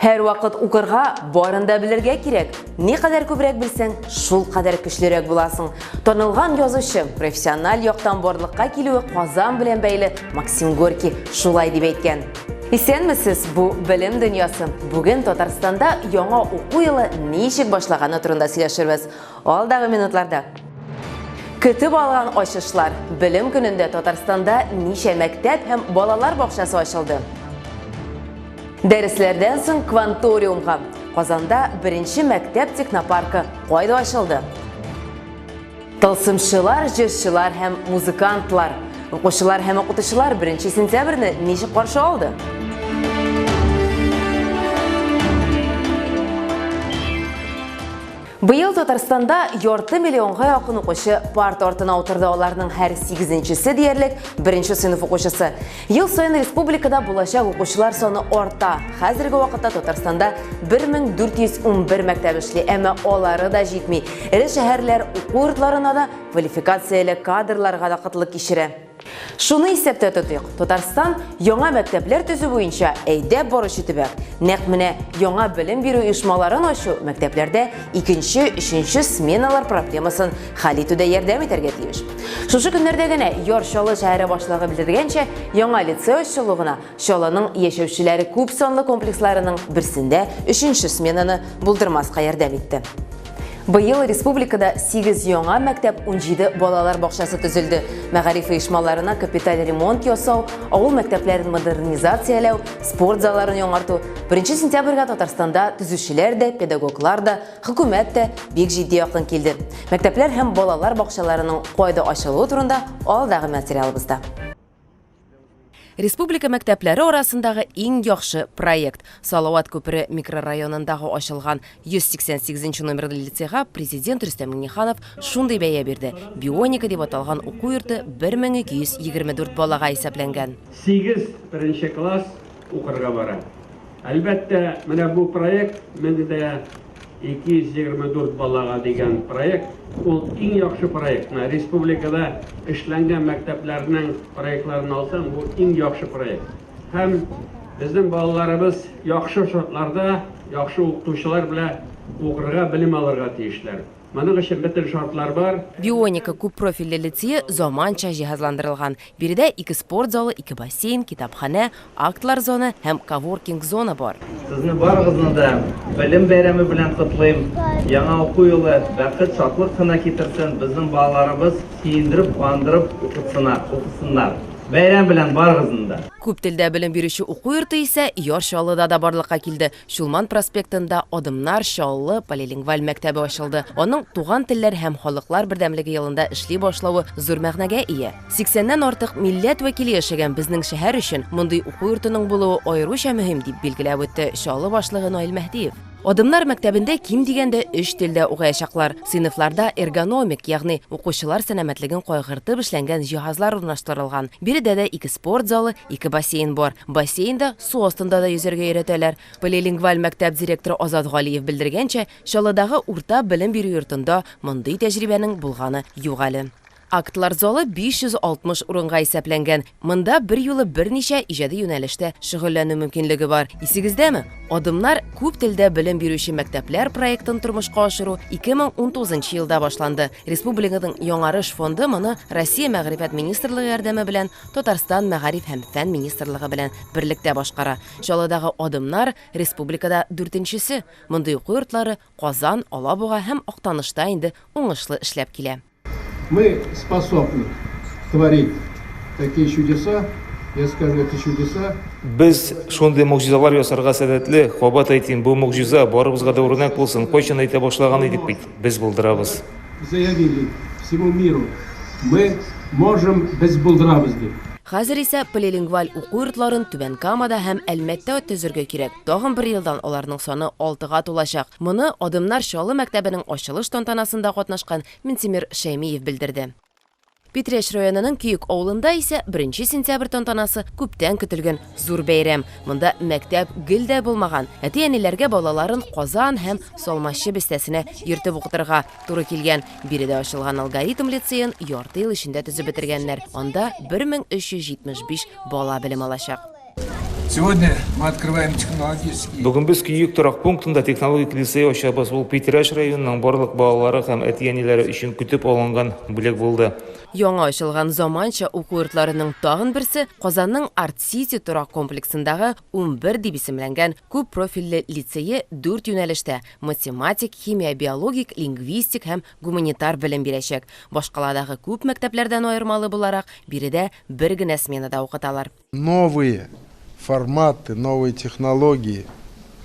Һәрвакыт укырга, барын да белергә кирәк. Ни кадәр күбрәк белсәң, шул кадәр көчлерәк буласың. Танылган язучы, профессиональ яктан барлыкка килүе Казан белән бәйле Максим Горький шулай дип әйткән. Исәнмесез, бу белем дөньясы. Бүген Татарстанда яңа уку елы ничек башлаганы турында сөйләшербез. Алдагы минутларда. Көтеп алган ачышлар. Белем көнендә Татарстанда ничә мәктәп һәм балалар бакчасы ачылды? Дәресләрдән соң кванториумга. Казанда беренче мәктәп технопаркы кайда ачылды? Тылсымчылар, җырчылар һәм музыкантлар. Укучылар һәм укытучылар 1 сентябрьне ничек каршы алды? Быел Татарстанда ярты миллионга якын укучы парта артына утырды, аларның һәр сигезенчесе диярлек беренче сыйныф укучысы. Ел саен республикада булачак укучылар саны арта. Хәзерге вакытта Татарстанда 1411 мәктәп эшли, әмма алары да җитми. Эре шәһәрләр уку йортларына да квалификацияле кадрларга да кытлык кичерә. Шуны исәптә тотыйк, Татарстан яңа мәктәпләр төзү буенча әйдәп баручы төбәк. Нәкъ менә яңа белем бирү оешмаларын ачу мәктәпләрдә икенче, өченче сменалар проблемасын хәл итүдә ярдәм итәргә тиеш. Шушы көннәрдә генә Яр Чаллы шәһәре башлыгы белдергәнчә, яңа лицей ачылу гына Чаллының яшәүчеләре күп санлы комплексларының берсендә өченче сменаны булдырмаска ярдәм итте. Быел республикада 8 яңа мәктәп, 17 балалар бакчасы төзелде. Мәгариф оешмаларына капиталь ремонт ясау, авыл мәктәпләрен модернизацияләү, спорт залларын яңарту. 1 сентябрьгә Татарстанда төзүчеләр дә, педагоглар да, хөкүмәт тә бик җитди якын килде. Мәктәпләр һәм балалар бакчаларының кайда ачылуы турында алдагы материалыбызда. Республика мәктәпләре арасындагы иң яхшы проект Салават күпере микрорайонындагы ачылган 188 нче номерлы лицейга Президент Рөстәм Миңнеханов шундый бәя бирде, Бионика дип аталган уку йорты 1224 балага исәпләнгән. Сигез беренче класс укырга бара. Әлбәттә, менә бу проект менде дә 224 балага дигән проект, ул иң яхшы проект. Менә республикада эшләнгән мәктәпләрнең проектларын алсаң, бу иң яхшы проект. Һәм безнең балаларыбыз яхшы шартларда, яхшы укытучылар белән укырга, белем алырга тиешләр. Моның өчен бөтен шартлар бар. Бионика күппрофильле лицее заманча җиһазландырылган. Биредә ике спорт залы, ике бассейн, китапханә, актлар зоны һәм коворкинг зона бар. Сезне барыгызны да Белем бәйрәме белән котлыйм! Яңа уку елы бәхет, шатлык кына китерсен, безнең балаларыбыз сөендереп, куандырып укытсына, укысыннар! Бәйрәм белән барыгызны да! Күп телдә белем бирүче уку йорты исә Яр Чаллыда да барлыкка килде. Чулман проспектында Адымнар, Чаллы, полилингваль мәктәбе ачылды. Аның Туган телләр һәм халыклар бердәмлеге елында эшли башлавы зур мәгънәгә ия. Сиксәннән артык милләт вәкиле яшәгән безнең шәһәр өчен мондый уку йортының булуы аеруча мөһим, дип билгеләп үтте Чаллы башлыгы Наил Мәһдиев. Адымнар мәктәбендә ким дигәндә өч телдә укыячаклар. Сыйныфларда эргономик, ягъни укучылар сәламәтлеген кайгыртып эшләнгән җиһазлар урнаштырылган. Биредә дә ике спорт залы, ике бассейн бар. Бассейнда Су астында да йөзәргә өйрәтәләр. Полилингваль мәктәп директоры Азат Галиев белдергәнчә, Чаллыдагы урта белем бирү йортында мондый тәҗрибәнең булганы юк әле. Актлар залы 560 урынга исәпләнгән. Монда берьюлы берничә иҗади юнәлештә шөгыльләнү мөмкинлеге бар. Исегездәме? Адымнар, күп телдә белем бирүче мәктәпләр проектын тормышка ашыру 2019 елда башланды. Республиканың Яңарыш фонды моны Россия Мәгърифәт министрлыгы ярдәме белән Татарстан Мәгариф һәм фән министрлыгы белән берлектә башкара. Чаллыдагы Адымнар, республикада дүртенчесе. Мондый уку йортлары Казан, Алабуга һәм Актанышта инде уңышлы эшләп килә. Мы способны творить такие чудеса, я скажу, это чудеса. Без шундый могҗизалар ясарга сәләтле, кабат әйтим, бу могҗиза, барыбызга да үрнәк булсын, кайчан әйтә башлаган идек бит. без булдырабыз. Заявили всему миру, мы можем, без булдырабыз, дип. Хәзер исә полилингваль уку йортларын Түбән Камада һәм Әлмәттә төзергә кирәк. Тагын бер елдан аларның саны алтыга тулачак. Моны Адымнар Чаллы мәктәбенең ачылыш тантанасында катнашкан Минтимер Шәймиев белдерде. Питрәч районының Көек авылында исә беренче сентябрь тантанасы күптән көтелгән зур бәйрәм. Монда мәктәп гел дә булмаган. Әти-әниләргә балаларын Казан һәм Салмачы бистәсенә йөртеп укытырга туры килгән. Биредә ачылган Алгоритм лицеен ярты ел эчендә төзеп бетергәннәр. Анда 1375 бала белем алачак. Сегодня мы открываем технологический... Бүген без Күйек торак пунктында технологик лицей ачабыз. Ул Питрәш районының барлык балалары һәм әти-әниләре өчен көтеп алынган бүләк булды. Яңа ачылган заманча уку йортларының тагын берсе Казанның Арт Сити торак комплексындагы 11 дип исемләнгән күп профильле лицее дүрт юнәлештә, математик, химия, биологик, лингвистик һәм гуманитар белем бирәчәк. Башкаладагы күп мәктәпләрдән аермалы буларак, биредә бер генә сменада укыталар. Новые форматы, новые технологии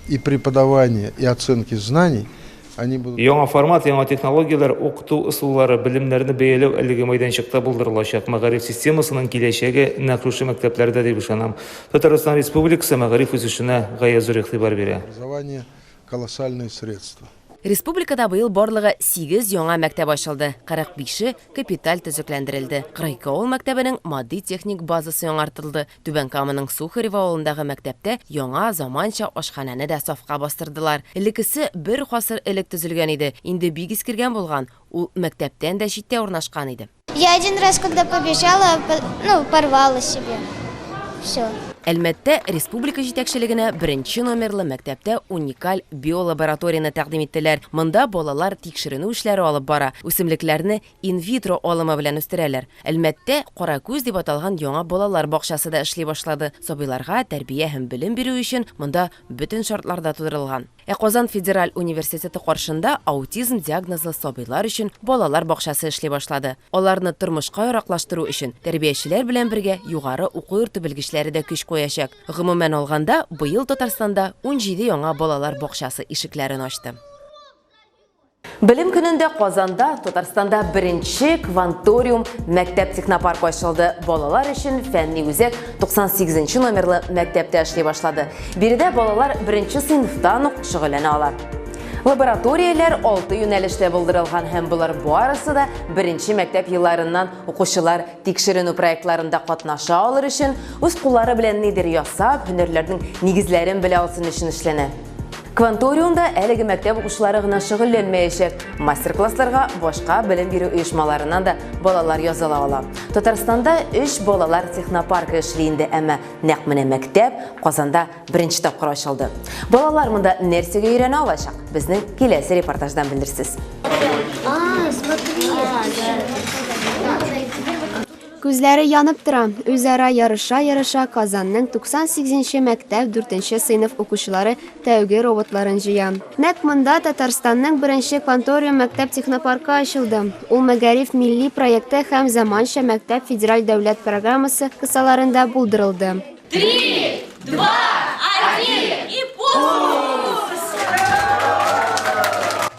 и преподавание, и оценки знаний, они будут... Яңа формат, яңа технологияләр, укыту ысуллары, белемнәрне бәяләү әлеге мәйданчыкта булдырылачак. Мәгариф системасының киләчәге нәкъ шушы мәктәпләрдә дип ышанам. Татарстан Республикасы мәгариф үсешенә гаять зур игътибар бирә. Образование колоссальные средства. Республикада быел барлыгы сигез яңа мәктәп ачылды, 45-е капиталь төзекләндерелде. 42 авыл мәктәбенең матди-техник базасы яңартылды. Түбән Каманың Сухарево авылындагы мәктәптә яңа, заманча ашханәне дә сафка бастырдылар. Элеккесе бер гасыр элек төзелгән иде, инде бик искергән булган, ул мәктәптән дә читтә урнашкан иде. Я один раз, когда побежала, ну, порвала себе. Все. Әлмәттә республика җитәкчелегенә беренче номерлы мәктәптә уникаль биолабораторияне тәкъдим иттеләр. Монда балалар тикшеренү эшләре алып бара, үсемлекләрне инвитро алымы белән үстерәләр. Әлмәттә Каракүз дип аталган яңа балалар бакчасы да эшли башлады. Сабыйларга тәрбия һәм белем бирү өчен монда бөтен шартлар да тудырылган. Ә Казан федераль университеты каршында аутизм диагнозлы сабыйлар өчен балалар бакчасы эшли башлады. Аларны тормышка яраклаштыру өчен тәрбиячеләр белән бергә югары уку йорты белгечләре дә көч куячак. Гомумән алганда, быел Татарстанда унҗиде яңа балалар бакчасы ишекләрен ачты. Белем көнендә Казанда, Татарстанда беренче кванториум мәктәп технопарк ачылды. Балалар өчен фәнни үзәк 98 номерлы мәктәптә эшли башлады. Биредә балалар беренче сыйныфтан ук шөгыльләнә ала. Лабораторияләр алты юнәлештә булдырылган һәм болар барысы да беренче мәктәп елларыннан укучылар тикшеренү проектларында катнаша алыр өчен, үз куллары белән нидер ясап, һөнәрләрнең нигезләрен белә алсын өчен эшләнә. Кванториумда әлеге мәктәп укучылары гына шөгыльләнмәячәк. Мастер-классларга башка белем бирү оешмаларыннан да балалар языла ала. Татарстанда 3 балалар технопаркы эшли инде, әмма нәкъ менә мәктәп Казанда беренче тапкыр ачылды. Балалар монда нәрсәгә өйрәнә алачак? Безнең киләсе репортаждан белерсез. Күзләре янып тора, үзара ярыша-ярыша Казанның 98 нче мәктәп дүртенче сыйныф укучылары тәүге роботларын җыя. Нәкъ монда Татарстанның беренче Кванториум мәктәп технопаркы ачылды. Ул Мәгариф милли проекты һәм Заманча мәктәп федераль дәүләт программасы кысаларында булдырылды. Три, два, один и пуск!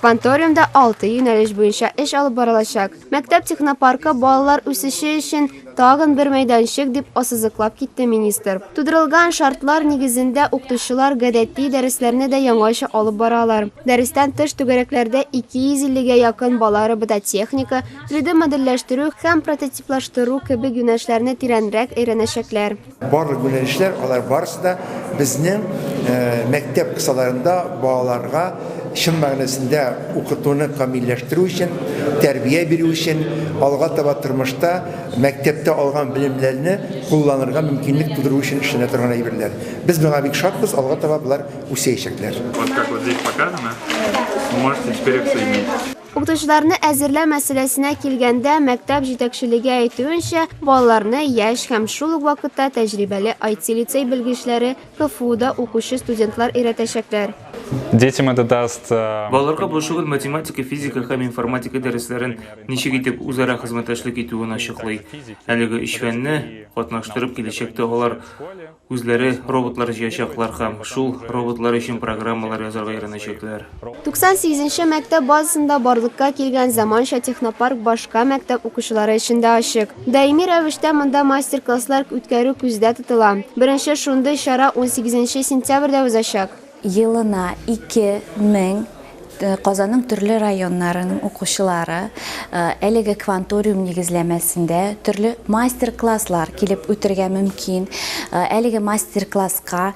Кванториумда алты юнәлеш буенча эш алып барылачак. Мәктәп технопаркы балалар үсеше өчен тагын бер мәйданчык, дип ассызыклап китте министр. Тудырылган шартлар нигезендә укытучылар гадәти дәресләрне дә яңача алып бара алар. Дәрестән тыш түгәрәкләрдә 250 гә якын бала робототехника, 3D-модельләштерү һәм прототиплаштыру кебек юнәлешләрне тирәнрәк өйрәнәчәкләр. Барлык юнәлешләр, алар барысы да безнең мәктәп кысаларында балаларга чын мәгънәсендә укытуны камилләштерү өчен, тәрбия бирү өчен, алга таба тормышта мәктәптә алган белемнәрне кулланырга мөмкинлек тудыру өчен эшләнә торган әйберләр. Без моңа бик шатбыз, алга таба болар үсәячәкләр. Вот как вот здесь показано, вы можете теперь их соединить. Укытучыларны әзерләү мәсьәләсенә килгәндә, мәктәп җитәкчелеге әйтүенчә, балаларны яшь һәм шул ук вакытта тәҗрибәле IT-лицей белгечләре, КФУда укучы студентлар өйрәтәчәкләр. Детям это даст. Балаларга бу шөгыль математика, физика һәм информатика дәресләрен ничек итеп үзара хезмәттәшлек итүен ачыклый. Әлеге өч фәнне катнаштырып, киләчәктә алар Үзләре роботлар җыячаклар һәм шул роботлар өчен программалар язарга өйрәнәчәкләр. 98 нче мәктәп базасында барлыкка килгән заманча технопарк башка мәктәп укучылары өчен дә ачык. Даими рәвештә монда мастер-класслар үткәрү күздә тотыла. Беренче шундый чара 18 нче сентябрьдә узачак. Елына ике мең Казанның төрле районнарының укучылары әлеге кванториум нигезләмәсендә төрле мастер-класслар килеп үтергә мөмкин. Әлеге мастер-класска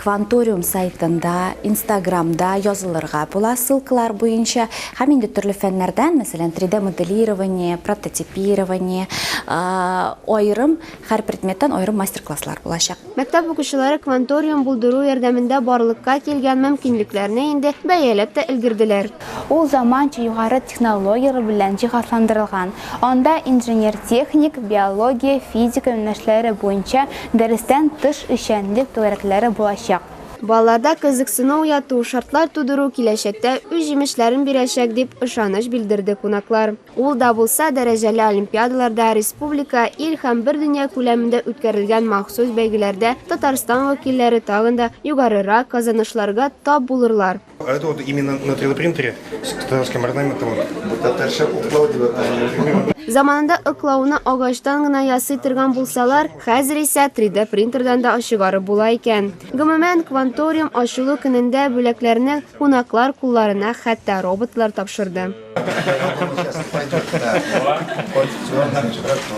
кванториум сайтында, инстаграмда язылырга була ссылкалар буенча һәм инде төрле фәннәрдән, мәсәлән, 3D-моделирование, прототипирование, аерым Һәр предметтан аерым мастер-класслар булачак. Мәктәп укучылары кванториум булдыру ярдәмендә барлыкка килгән мөмкинлекләрне инде бәяләп тә өлгерделәр. Ул заманча югары технологияләр белән җиһазландырылган. Анда инженер-техник, биология, физика юнәлешләре буенча дәрестән тыш эшчәнлек түгәрәкләре булачак. Балаларда кызыксыну уяту, шартлар тудыру киләчәктә үз җимешләрен бирәчәк, дип ышаныч белдерде кунаклар. Ул да булса, дәрәҗәле олимпиадаларда, республика, ил һәм бер дөнья күләмендә үткәрелгән махсус бәйгеләрдә Татарстан вәкилләре тагын да югарырак казанышларга тап булырлар. А это вот именно на 3D принтере с татарским орнаментом. Бу татарча уклау дип атала. Заманында ыклауны агачтан гына ясый торган булсалар, хәзер исә 3D принтердан да ачыгарып була икән. Гомумән, Кванториум ачылу көнендә бүләкләрне кунаклар кулларына хәтта роботлар тапшырды.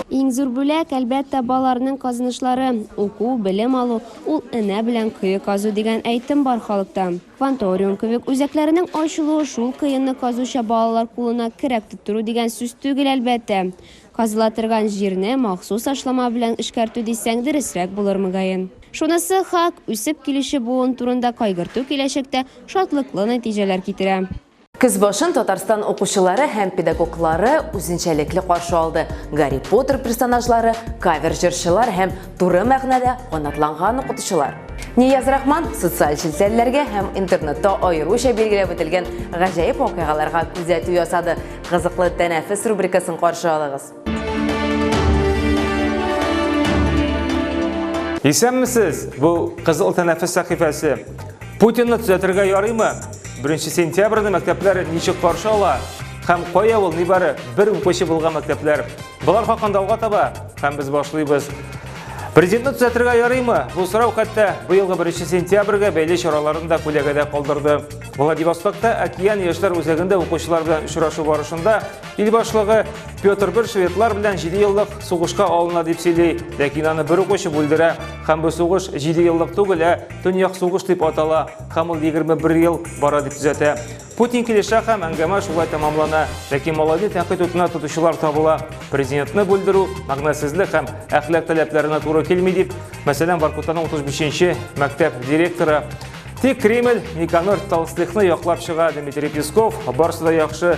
Иң зур бүләк, әлбәттә, баларның казынышлары. Уку, белем алу, ул энә белән кое казу дигән әйтем бар халыкта. Кванториум кебек үзәкләренең ачылуы шул кыенны казуча балалар кулына керәк тоттыру дигән сүз түгел, әлбәттә. Казыла торган җирне махсус ашлама белән эшкәртү дисәң дөресрәк булыр, мөгаен. Шунысы хак, үсеп килүче буын турында кайгырту киләчәктә шатлыклы нәтиҗәләр китерә. Көз башын Татарстан укучылары һәм педагоглары үзенчәлекле каршы алды. Гарри Поттер персонажлары, кавер җырчылар һәм туры мәгънәдә канатланган укытучылар. Нияз Рахман социаль челтәрләргә һәм интернетта аеруча билгеләп үтелгән гаҗәеп вакыйгаларга күзәтү ясады. Кызыклы тәнәфес рубрикасын каршы алыгыз. Исәнмесез! Бу Кызыл тәнәфес сәхифәсе. Путинны төзәтергә ярыймы? 1 сентябрьне мәктәпләр ничек каршы ала? Һәм кая ул нибары бер укучы булган мәктәпләр? Болар хакында алга таба һәм без башлыйбыз. Президентны төзәтергә ярыймы? Бу сорау хәтта быелгы 1 сентябрьгә бәйле чараларын да күләгәдә калдырды. Владивостокта Океан яшьләр үзәгендә укучылар белән очрашу барышында Ил башлыгы Петр I шведлар белән 7 еллык сугышка алына дип сөйли, ләкин аны бер ук очып бүлдерә. Һәм бу сугыш 7 еллык түгел, ә Төньяк сугыш дип атала. Һәм ул 21 ел бара дип төзәтә. Путин килешә һәм әңгәмә шулай тәмамлана. Ләкин малайны тәнкыйть утына тотучылар табыла. Президентны бүлдерү мәгънәсезлек һәм әхлак таләпләренә туры килми дип, мәсәлән, Воркутаның 35-нче мәктәп директоры Тик Кремль Никанор Толстыхны яклап чыга Дмитрий Песков, барсы да яхшы.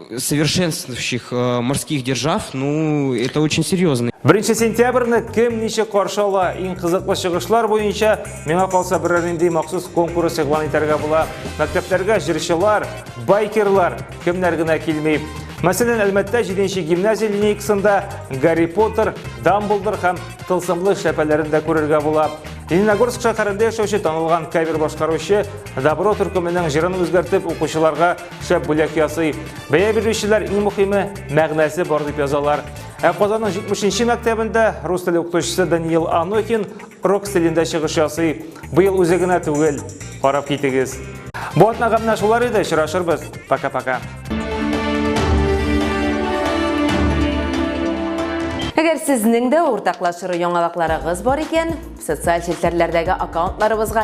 совершенствующих э, морских держав, ну, это очень серьезно. Беренче сентябрьне кем ничек каршы ала? Иң кызыклы чыгышлар буенча миңа калса берәр нинди махсус конкурс игълан итәргә була. Мәктәпләргә җырчылар, байкерлар кемнәр генә килми. Мәсәлән, Әлмәттә 7-нче гимназия линейкасында Гарри Поттер, Дамблдор һәм тылсымлы шәпәләрен дә күрергә була. Лениногорск шәһәрендә яшәүче танылган кавер башкаручы Добро төркеменең җырын үзгәртеп укучыларга Шәп бүләк ясый. Бәя бирүчеләр иң мөхиме, мәгънәсе бар дип язалар. Ә Казанның 70-нче мәктәбендә рус теле укытучысы Даниил Анохин рок стилендә чыгыш ясый. Быел үзе генә түгел. Карап китегез. Бу атнага менә шулар иде, очрашырбыз. Пока-пока. Әгәр сезнең дә уртаклашыры яңалыкларыгыз бар икән, социаль челтәрләрдәге аккаунтларыбызга